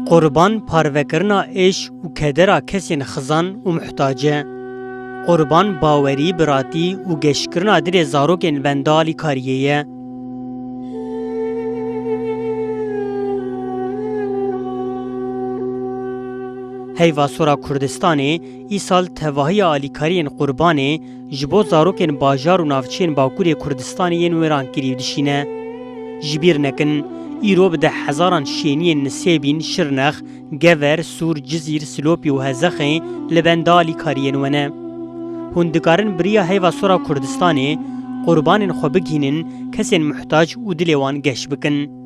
Qurban parvekirina êş û kedera kesên xizan û muhtac e. Qurban bawerî, biratî û geşkirina dilê zarokên benda alîkariyê ye. Heyva Sora Kurdistanê îsal tevahiya alîkariyên qurbanê ji bo zarokên bajar û navçeyên Bakurê Kurdistanê yên wêran kirî dişîne. Ji bîr nekin, îro bi deh hezaran şêniyên Nisêbîn, Şirnex, Gever, Sûr, Cizîr, Silopî û Hezexê li benda alîkariyên we ne. Hûn dikarin bi riya heyva sora Kurdistanê qurbanên xwe bigihînin kesên muhtac û dilê wan geş bikin.